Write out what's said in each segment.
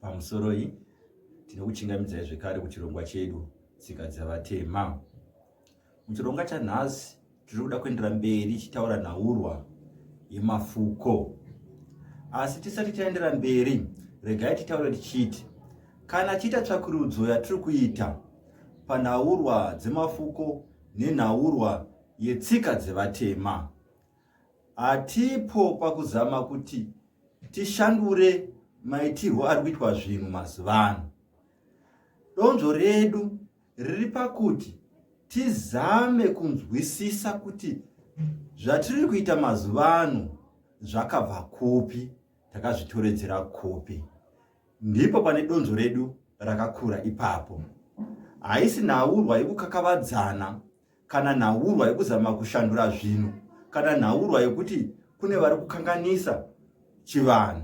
Pamusoroi tinokuchingamidzai zvekare kuchirongwa chedu tsika dzevatema. Muchirongwa chanhasi tiri kuda kuendera mberi chitaura nhaurwa yemafuko asi tisati taendera mberi regai titaure tichiti kana chiita tsvakurudzo yatiri kuita panhaurwa dzemafuko nenhaurwa yetsika dzevatema Hatipo pakuzama kuti tishandure maitirwo ari kuitwa zvinhu mazuva ano. Donzvo redu riri pakuti tizame kunzwisisa kuti zvatiri kuita mazuva ano zvakabva kupi takazvitoredzera kupi ndipo pane donzvo redu rakakura ipapo haisi nhaurwa yekukakavadzana kana nhaurwa yekuzama kushandura zvinhu kana nhaurwa yekuti kune vari kukanganisa chivanhu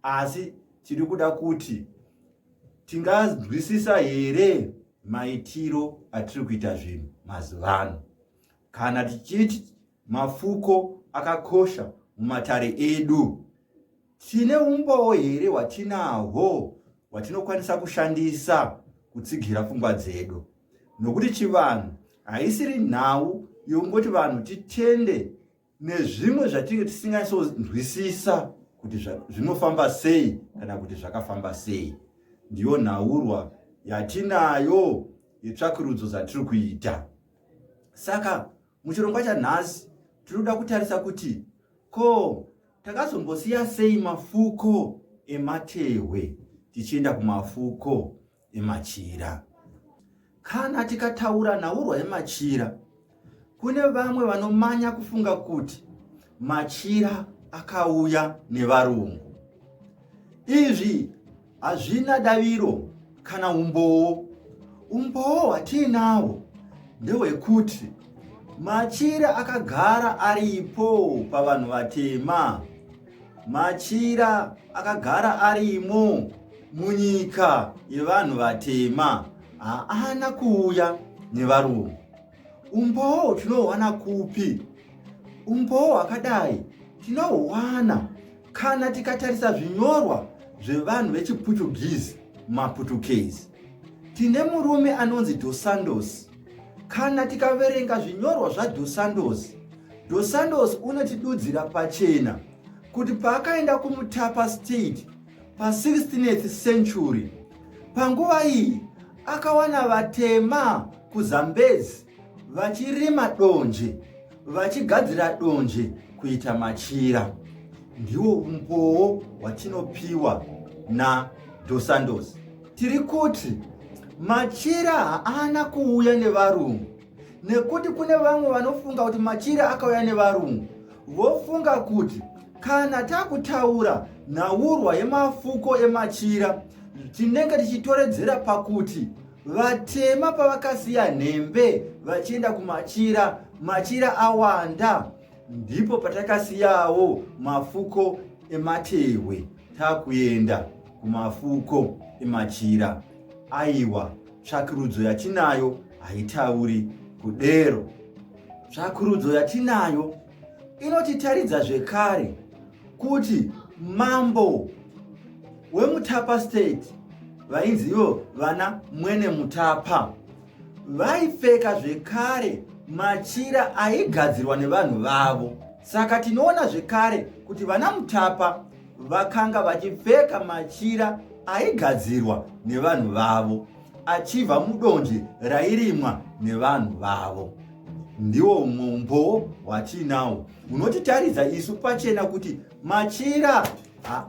asi tiri kuda kuti tinganzwisisa here maitiro atiri kuita zvinhu mazuva ano kana tichiti mafuko akakosha mumatare edu Tine umbowo here hwatinahwo hwatinokwanisa kushandisa kutsigira pfungwa dzedu? Nokuti chivanhu haisiri nhau yokungoti vanhu titende nezvimwe zvatinge tisingaisonzwisisa kuti zvinofamba sei kana kuti zvakafamba sei. Ndiyo nhaurwa yatinayo yetsvakurudzo dzatiri kuita. Saka Muchirongwa chanhasi tiri kuda kutarisa kuti ko takazombosiya sei mafuko ematehwe tichienda kumafuko emachira. Kana tikataura nhaurwa yemachira, kune vamwe vanomanya kufunga kuti machira akauya nevarungu. Izvi Hazvina daviro kana umbowo. Umbowo hwatiinawo ndehwekuti machira akagara aripo pavanhu vatema machira akagara arimo munyika yevanhu vatema haana kuuya nevarungu Umbowo tinohwana kupi? Umbowo hwakadai tinohwana kana tikatarisa zvinyorwa zvevanhu vechiPutugizi, maPutukezi. Tine murume anonzi Dos Santos. Kana tikaverenga zvinyorwa zvaDos Santos, Dos Santos unotidudzira pachena kuti paakaenda kuMutapa State pa 16th century, panguva iyi akawana vatema kuzambezi vachirima donje vachigadzira donje kuita machira ndiwo umbowo watinopiwa nadosandos tiri kuti machira haana kuuya nevarungu nekuti kune vamwe vanofunga kuti machire akauya nevarungu vofunga kuti kana takutaura nhaurwa yemafuko emachira tinenge tichitoredzera pakuti vatema pavakasiya nhembe vachienda kumachira machira awanda ndipo patakasiyawo mafuko ematehwe takuenda kumafuko emachira aiwa tsvakurudzo yatinayo haitauri kudero tsvakurudzo yatinayo inotitaridza zvekare kuti mambo wemutapa state vainzi ivo vana mwene mutapa vaipfeka zvekare machira aigadzirwa nevanhu vavo saka tinoona zvekare kuti vana mutapa vakanga vachipfeka machira aigadzirwa nevanhu vavo achibva mudonje rairimwa nevanhu vavo ndiwo umwe umbowo hwatiinawo unotitaridza isu pachena kuti machira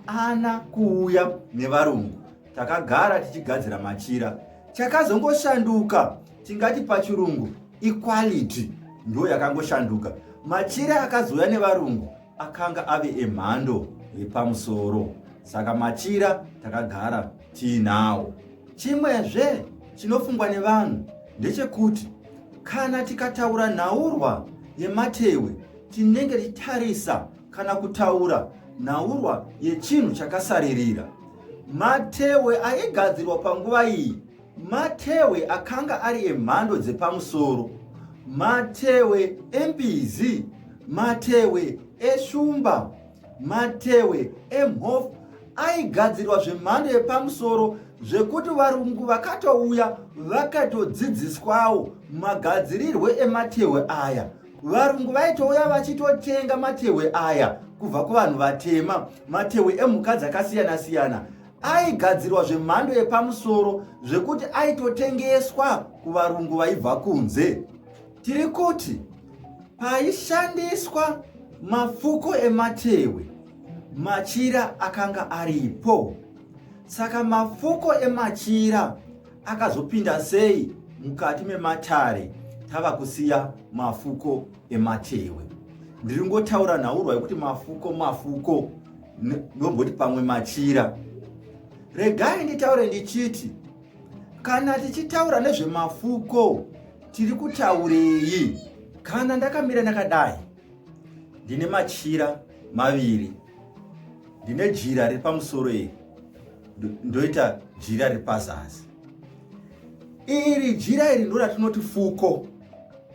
haana kuuya nevarungu takagara tichigadzira machira chakazongoshanduka tingati pachirungu equality ndiyo yakangoshanduka machira akazouya nevarungu akanga ave emhando yepamusoro saka machira takagara tiinawo chimwezve chinofungwa nevanhu ndechekuti kana tikataura nhaurwa yematewe tinenge tichitarisa kana kutaura nhaurwa yechinhu chakasaririra matewe aigadzirwa panguva iyi Matehwe akanga ari emhando dzepamusoro, matehwe embizi, matehwe eshumba, matehwe emhofu aigadzirwa zvemhando yepamusoro zvekuti varungu vakatouya vakatodzidziswawo magadzirirwe ematehwe aya varungu vaitouya vachitotenga matehwe aya kubva kuvanhu vatema matehwe emhuka dzakasiyana-siyana aigadzirwa zvemhando yepamusoro zvekuti aitotengeswa kuvarungu vaibva kunze tiri kuti paishandiswa mafuko ematewe machira akanga aripo saka mafuko emachira akazopinda sei mukati mematare tava kusiya mafuko ematewe ndiri ngotaura nhaurwa yekuti mafuko mafuko ndomboti pamwe machira regai nditaure ndichiti kana tichitaura nezvemafuko tiri kutaurei kana ndakamira ndakadai ndine machira maviri ndine jira riri pamusoro iri ndoita jira riri pazasi iri jira iri ndo ratinoti fuko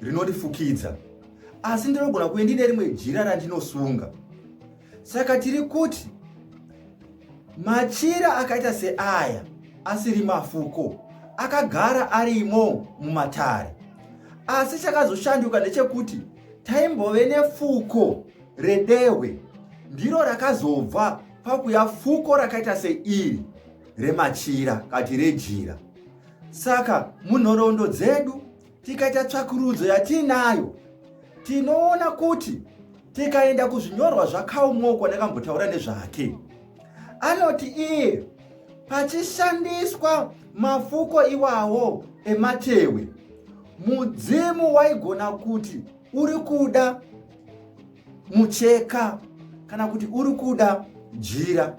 rinotifukidza asi ndinogona kuve ndine rimwe jira randinosunga Saka tiri kuti machira akaita seaya asiri mafuko akagara arimo mumatare asi chakazoshanduka ndechekuti taimbove nefuko redehwe ndiro rakazobva pakuya fuko rakaita seiri remachira kati rejira saka munhoroondo dzedu Tikaita tsvakurudzo yatiinayo tinoona kuti tikaenda kuzvinyorwa zvakaumokwa nekambotaura nezvake anoti iye pachishandiswa mafuko iwawo ematewe mudzimu waigona kuti uri kuda mucheka kana kuti uri kuda jira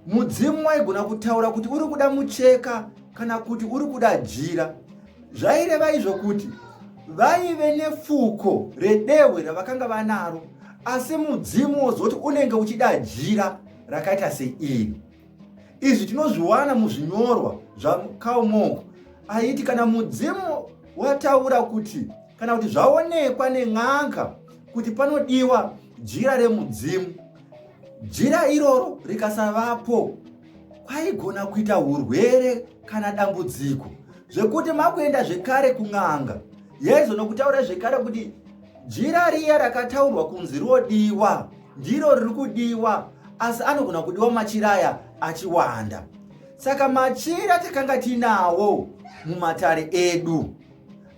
Mudzimu waigona kutaura kuti uri kuda mucheka kana kuti uri kuda jira. Zvaireva izvo kuti vaive nefuko redehwe ravakanga vanaro, asi mudzimu wozoti unenge uchida jira rakaita seiri. Izvi tinozviwana muzvinyorwa zvaKarl Monk aiti kana mudzimu wataura kuti kana kuti zvaonekwa nen'anga kuti panodiwa jira remudzimu Jira iroro rikasavapo kwaigona kuita urwere kana dambudziko zvekuti makuenda zvekare kun'anga yaizono kutaura zvekare kuti jira riya rakataurwa kunzi rodiwa ndiro riri kudiwa asi anogona kudiwa machira aya achiwanda saka machira takanga tinawo mumatare edu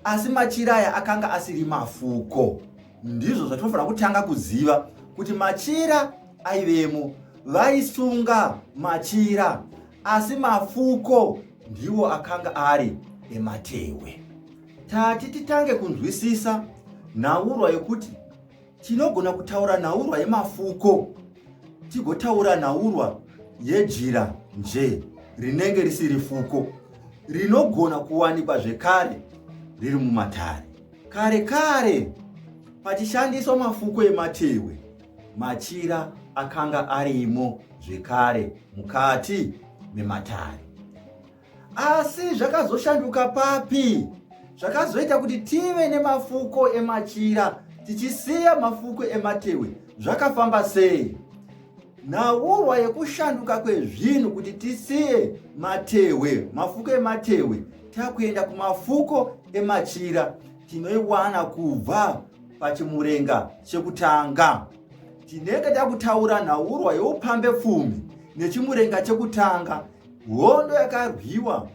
asi machira aya akanga asiri mafuko Ndizvo zvatinofanira kutanga kuziva kuti machira aivemo vaisunga machira asi mafuko ndiwo akanga ari ematehwe. Tati titange kunzwisisa nhaurwa yekuti tinogona kutaura nhaurwa yemafuko tigotaura nhaurwa yejira nje rinenge risiri fuko rinogona kuwanikwa zvekare riri mumatare. Kare kare pachishandiswa mafuko ematehwe, machira akanga arimo zvekare mukati mematare. Asi zvakazoshanduka papi? Zvakazoita kuti tive nemafuko emachira tichisiya mafuko ematehwe zvakafamba sei? Nhauurwa yekushanduka kwezvinhu kuti tisiye matehwe, mafuko ematehwe, takuenda kumafuko emachira tinoiwana kubva pachimurenga chekutanga. Tinenge takutaura nhaurwa yeupambe pfumi nechimurenga chekutanga, hondo yakarwiwa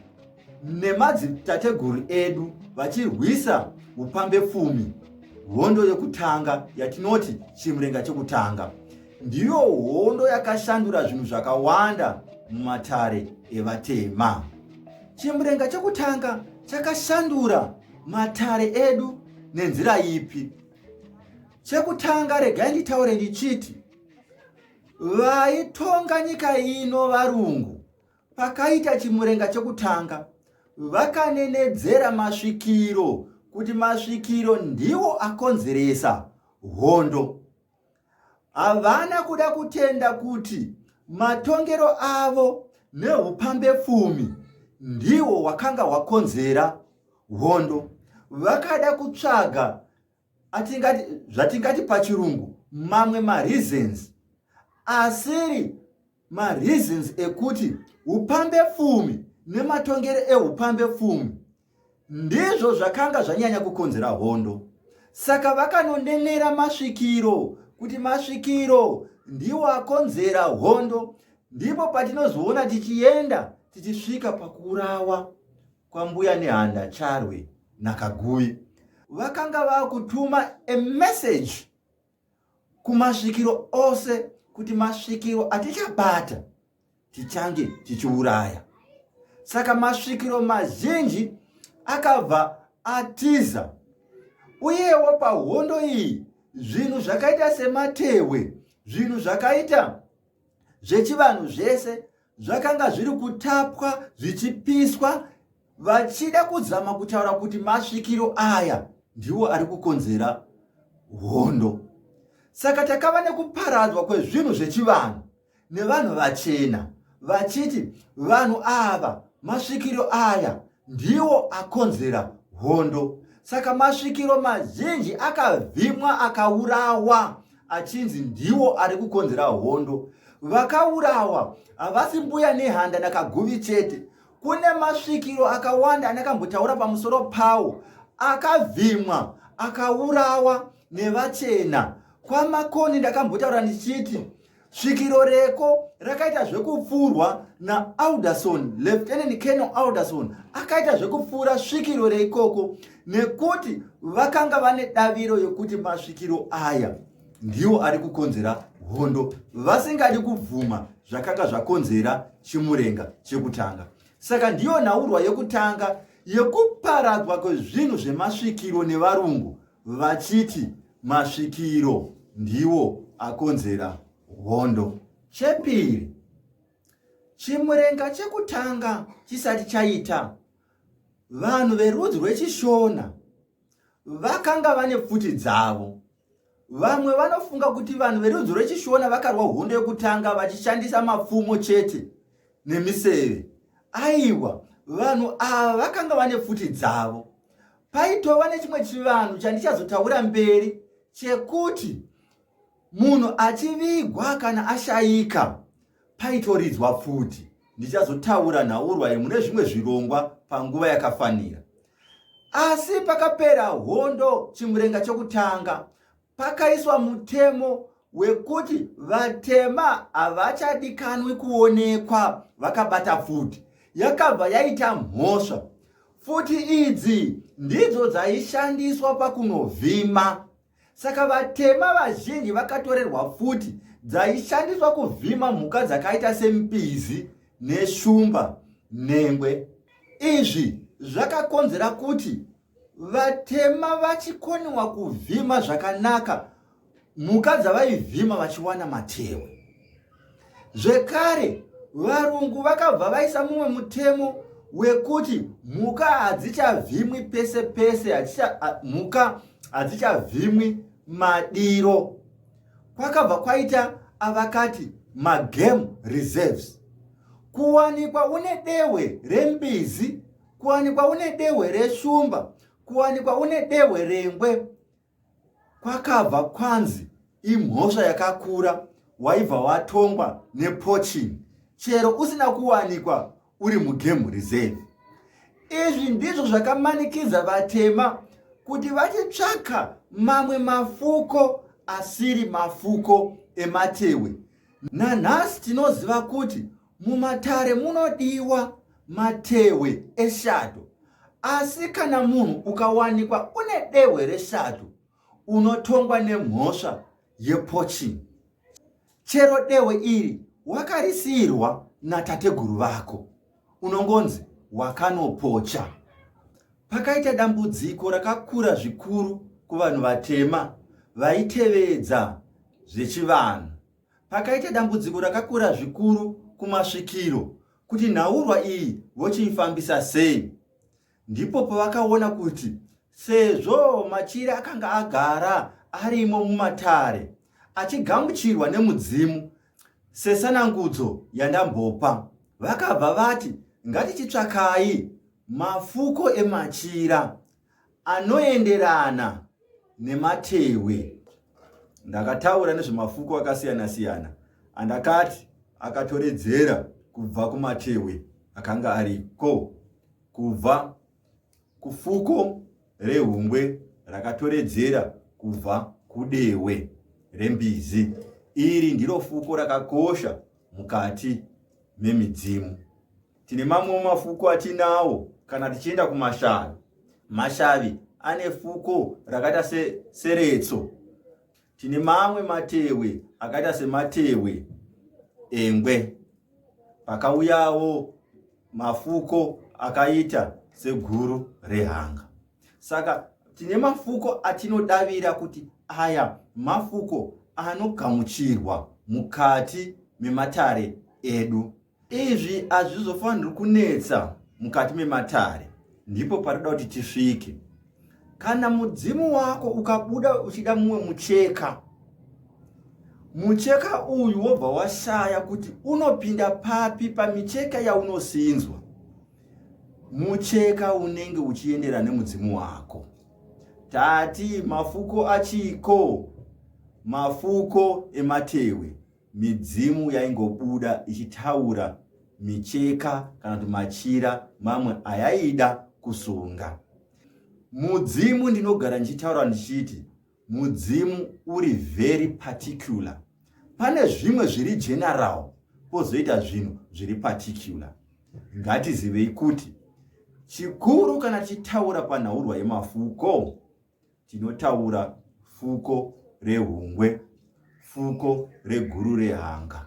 nemadzitateguru edu vachirwisa upambe pfumi hondo yekutanga yatinoti chimurenga chekutanga ndiyo hondo yakashandura zvinhu zvakawanda mumatare evatema chimurenga chekutanga chakashandura matare edu nenzira ipi chekutanga regai nditaure ndichiti vaitonga nyika ino varungu Pakaita chimurenga chekutanga, vakanenedzera masvikiro kuti masvikiro ndiwo akonzeresa hondo. Havana kuda kutenda kuti matongero avo neupambe pfumi ndiwo wakanga wakonzera hondo. Vakada kutsvaga atingati zvatingati pachirungu mamwe mareasons asiri mareasons ekuti upambe pfumi nematongere eupambe pfumi ndizvo zvakanga zvanyanya kukonzera hondo saka vakanonenera masvikiro kuti masvikiro ndiwo akonzera hondo ndipo patinozoona tichienda tichisvika pakuurawa kwambuya nehanda charwe nakaguyi vakanga vakutuma a message kumasvikiro ose kuti masvikiro atichabata tichange tichiuraya saka masvikiro mazhinji akabva atiza uyewo pahondo iyi zvinhu zvakaita sematehwe zvinhu zvakaita zvechivanhu zvese zvakanga zviri kutapwa zvichipiswa vachida kuzama kutaura kuti masvikiro aya ndiwo ari kukonzera hondo saka takava nekuparadzwa kwezvinhu zvechivanhu nevanhu vachena vachiti vanhu ava masvikiro aya ndiwo akonzera hondo saka masvikiro mazhinji akavhimwa akaurawa achinzi ndiwo ari kukonzera hondo vakaurawa havasi mbuya nehanda nakaguvi chete kune masvikiro akawanda anakambotaura pamusoro pawo akavhimwa akaurawa nevachena kwamakoni ndakambotaura ndichiti Svikiro reko rakaita zvekupfuurwa naAlderson, Lieutenant Colonel Alderson akaita zvekupfuura svikiro reikoko nekuti vakanga vane daviro yekuti masvikiro aya ndiwo ari kukonzera hondo vasingadi kubvuma zvakanga zvakonzera chimurenga chekutanga. Saka ndiyo nhaurwa yekutanga yekuparadzwa kwezvinhu zvemasvikiro nevarungu vachiti masvikiro ndiwo akonzera hondo. Chepiri, Chimurenga chekutanga chisati chaita, vanhu verudzi rweChishona vakanga vane pfuti dzavo. Vamwe vanofunga kuti vanhu verudzi rweChishona vakarwa hondo yekutanga vachishandisa mapfumo chete nemiseve. Aiwa, vanhu ava vakanga vane pfuti dzavo. Paitova nechimwe chivanhu chandichazotaura mberi chekuti munhu achivigwa kana ashayika paitoridzwa pfuti. Ndichazotaura nhaurwa iyi mune zvimwe zvirongwa panguva yakafanira. Asi pakapera hondo chimurenga chokutanga, pakaiswa mutemo wekuti vatema havachadikanwi kuonekwa vakabata pfuti yakabva yaita mhosva pfuti idzi ndidzo dzaishandiswa pakunovhima saka vatema vazhinji vakatorerwa pfuti dzaishandiswa kuvhima mhuka dzakaita sempizi neshumba nhengwe izvi zvakakonzera kuti vatema vachikoniwa kuvhima zvakanaka mhuka dzavaivhima vachiwana matewe zvekare varungu vakabva vaisa mumwe mutemo wekuti mhuka hadzichavhimwi pese pese mhuka hadzichavhimwi madiro kwakabva kwaita avakati magame reserves kuwanikwa une dehwe rembizi kuwanikwa une dehwe reshumba kuwanikwa une dehwe rengwe kwakabva kwanzi imhosva yakakura waibva watongwa nepoching chero usina kuwanikwa uri mugame reserve izvi ndizvo zvakamanikidza vatema kuti vachitsvaka mamwe mafuko asiri mafuko ematewe nanhasi tinoziva kuti Mumatare munodiwa matehwe eshato, asi kana munhu ukawanikwa une dehwe reshato unotongwa nemhosva yepoaching chero dehwe iri wakarisiyirwa natateguru vako unongonzi wakanopocha pakaita dambudziko rakakura zvikuru kuvanhu vatema vaitevedza zvechivanhu Pakaita dambudziko rakakura zvikuru kumasvikiro kuti nhaurwa iyi vochiifambisa sei. Ndipo pavakaona kuti sezvo machira akanga agara arimo mumatare achigamuchirwa nemudzimu sesanangudzo yandambopa vakabva vati ngatichitsvakai mafuko emachira anoenderana nematehwe. Ndakataura nezvemafuko akasiyana siyana andakati akatoredzera kubva kumatehwe akanga ariko kubva kufuko rehungwe rakatoredzera kubva kudehwe rembizi. Iri ndiro fuko rakakosha mukati memidzimu. Tine mamwewo mafuko atinawo kana tichienda kumashavi. Mashavi ane fuko rakaita se, seretso. Tine mamwe matewe akaita sematewe engwe. Pakauyawo mafuko akaita seguru rehanga. Saka tine mafuko atinodavira kuti aya mafuko anogamuchirwa mukati mematare edu. Izvi hazvizofaniri kunetsa mukati mematare, ndipo parida kuti tisvike. Kana mudzimu wako ukabuda uchida mumwe mucheka, mucheka uyu wobva washaya kuti unopinda papi pamicheka yaunosinzwa, mucheka unenge uchiendera nemudzimu wako. Tati mafuko achiko, mafuko ematewe. midzimu yaingobuda ichitaura micheka kana kuti machira mamwe ayaida kusunga mudzimu ndinogara ndichitaura ndichiti mudzimu uri very particular pane zvimwe zviri general pozoita zvinhu zviri particular ngatizivei kuti chikuru kana tichitaura panhaurwa yemafuko tinotaura fuko rehungwe fuko reguru rehanga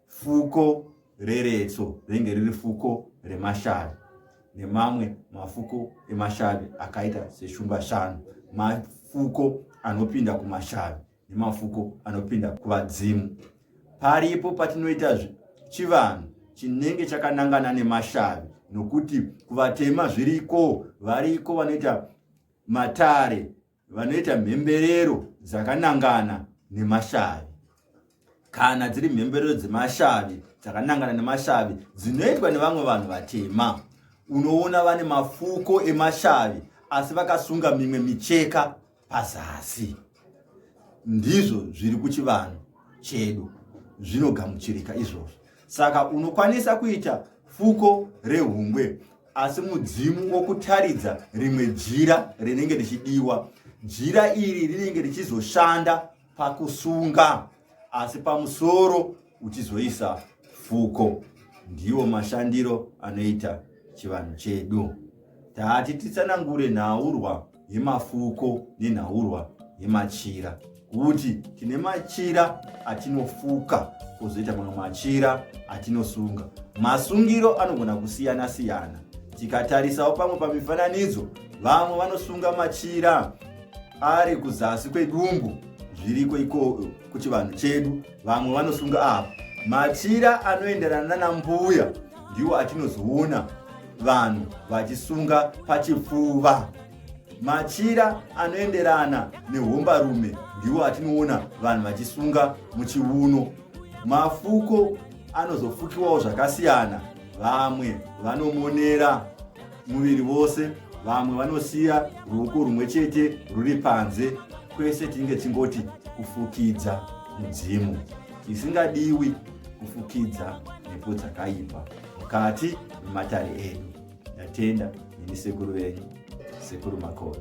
fuko reretso rinenge riri fuko remashavi nemamwe mafuko emashavi akaita seshumba shanu mafuko anopinda kumashavi nemafuko anopinda kuvadzimu. Paripo patinoita chivanhu chinenge chakanangana nemashavi nokuti kuvatema zviriko variko vanoita matare vanoita mhemberero dzakanangana nemashavi kana dziri mhemberero dzemashavi dzakanangana nemashavi dzinoitwa nevamwe vanhu vatema unoona vane mafuko emashavi asi vakasunga mimwe micheka pazasi ndizvo zviri kuchivanhu chedu zvinogamuchirika izvozvo saka unokwanisa kuita fuko rehungwe asi mudzimu wokutaridza rimwe jira rinenge richidiwa jira iri rinenge richizoshanda pakusunga asi pamusoro uchizoisa fuko. Ndiwo mashandiro anoita chivanhu chedu. Tati titsanangure nhaurwa yemafuko nenhaurwa yemachira kuti tine machira atinofuka kozoita mamwe machira atinosunga masungiro anogona kusiyana siyana tikatarisawo pamwe pamifananidzo vamwe vanosunga machira ari kuzasi kwedumbu zviriko ikoko kuchivanhu chedu vamwe vanosunga apa machira anoenderana nanambuya ndiwo atinozoona vanhu vachisunga pachipfuva machira anoenderana nehombarume ndiwo atinoona vanhu vachisunga muchiuno mafuko anozofukiwawo zvakasiyana vamwe vanomonera muviri vose vamwe vanosiya ruoko rumwe chete ruri panze kwese tinenge tingoti kufukidza mudzimu isingadiwi kufukidza mhepo dzakaipa mukati mematare edu ndatenda neni sekuru venyu sekuru makore